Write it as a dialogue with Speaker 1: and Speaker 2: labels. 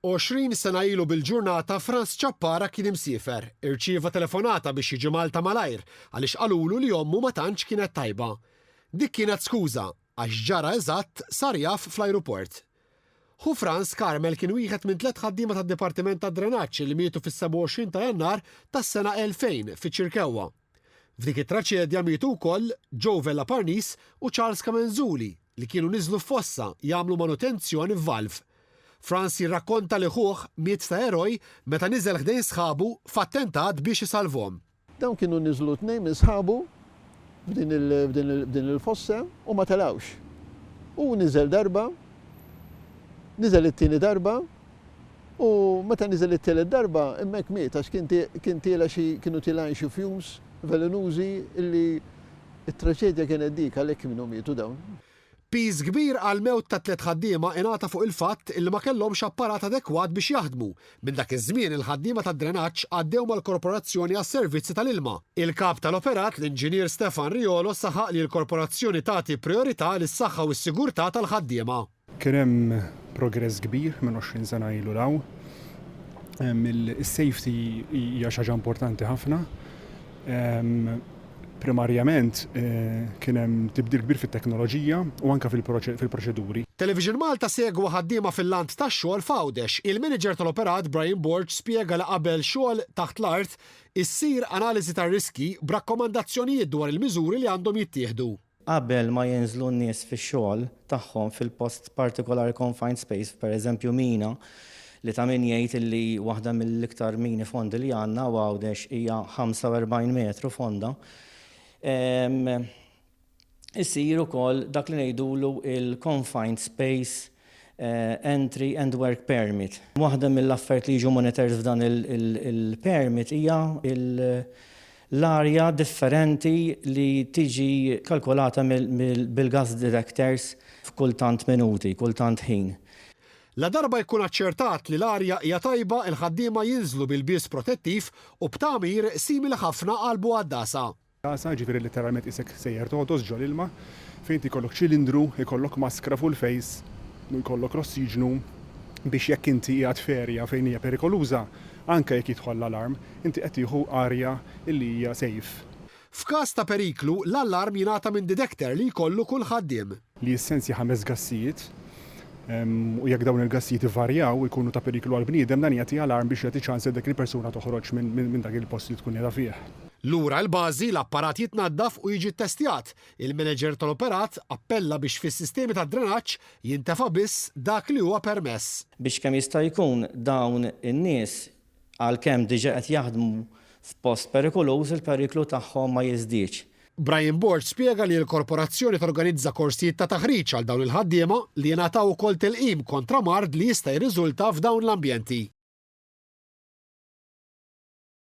Speaker 1: Għoxrin sena ilu bil-ġurnata Frans Ciappara kien imsiefer. Irċieva telefonata biex jiġi Malta malajr għaliex qalulu li ommu ma tantx kienet tajba. Dik kienet skuża, għax ġara eżatt sar jaf fl-ajruport. Ħu Frans, Carmel kien wieħed minn tliet ħaddiema tad-Dipartiment tad-Drenaġġ li mietu fis-27 ta' Jannar tas-sena 2000 fiċ-Ċirkewwa. F'dik it-traċedja mietu wkoll Joe Vella Parnis u Charles Camenzuli li kienu niżlu f'fossa jagħmlu manutenzjoni f'valv. Frans jirrakkonta li ħuh miet ta' eroj meta niżel ħdejn sħabu f'attentat biex isalvhom. Dawn kienu niżlu
Speaker 2: tnejn minn sħabu f'din il-fossa u ma telgħux. Hu niżel darba, niżel it-tieni darba, U meta niżel it-tielet darba, hemmhekk miet għax kien kien tiela' xi kienu tielgħin xi fumes velenużi li t-traġedja kienet dik għalhekk minhom mietu dawn. Piż kbir
Speaker 1: għall-mewt tat-tliet ħaddiema ingħata fuq il-fatt li ma kellhomx apparat adekwat biex jaħdmu. Minn dak iż-żmien il-ħaddiema tad-drenaġġ għaddew mal-Korporazzjoni għas-Servizzi tal-Ilma. Il-Kap tal-Operat, l-Inġinier Stefan Riolo saħaq li l-Korporazzjoni tagħti prijorità lis-saħħa u s-sigurtà tal-ħaddiema. Kien hemm
Speaker 3: progress kbir minn għoxrin sena ilu 'l hawn. Is-safety hija xi ħaġa importanti ħafna. Primarjament kien hemm tibdil kbir fit-teknoloġija u anke fil-proċeduri. Television Malta
Speaker 1: segwa ħaddiema fil-lant tax-xogħol f'Għawdex. Il-Manager tal-Operat, Brian Borg spjega li qabel xogħol taħt l-art, issir analiżi tar-riskji b'rakkomandazzjonijiet dwar il-miżuri li għandhom jittieħdu. Qabel ma jinżlu
Speaker 4: n-nies fix-xogħol tagħhom fil-post partikolari confined space, per eżempju mina, li ta' min jgħid illi waħda mill-iktar mini fondi li għandna u Għawdex hija 45 metru fonda, isir ukoll dak li ngħidulu l-confined space Entry and Work Permit. Waħda mill-affarijiet li jiġu monitored f'dan il-permit hija l-arja differenti li tiġi kalkulata bil-gas detectors f'kull tant minuti, kull tant ħin. Ladarba
Speaker 1: jkun aċċertat li l-arja hija tajba, il-ħaddiema jinżlu b'ilbies protettiv u b'tagħmir simili ħafna għal Boadasa. Tagħsa, jiġifieri
Speaker 3: letteralment qisek sejjer togħdos ġol-ilma, fejn inti jkollok ċilindru, jkollok maskra fuq il-fejs, jkollok l-ossiġnu biex jekk inti qiegħed f'erja fejn hija perikoluża, anke jekk jidħol l-alarm, inti qed tieħu arja li hija safe. F'każ ta'
Speaker 1: periklu, l-alarm jingħata minn didekter li jkollu kull ħaddiem. li jissensja ħames
Speaker 3: gassijiet u jekk dawn il-gassijiet ivarjaw u jkunu ta' periklu għall-bniedem, dan jagħti alarm biex jagħti ċans lil dik il-persuna toħroġ minn dak il-post li tkun qiegħda fih. Lura l-bażi,
Speaker 1: l-apparat jitnaddaf u jiġi ttestjat. Il-manager tal-operat appella biex fis-sistemi tad-drenaġġ jintefa' biss dak li huwa permess. Biex kemm jista'
Speaker 4: jkun dawn in-nies Għalkemm diġà qed jaħdmu f'post perikoluż, il-periklu tagħhom ma jiżdiedx. Brian Borg
Speaker 1: spjega li l-korporazzjoni torganizza korsijiet ta' taħriġ għal dawn il-ħaddiema li jingħataw ukoll tilqim kontra mard li jista' jirriżulta f'dawn l-ambjenti.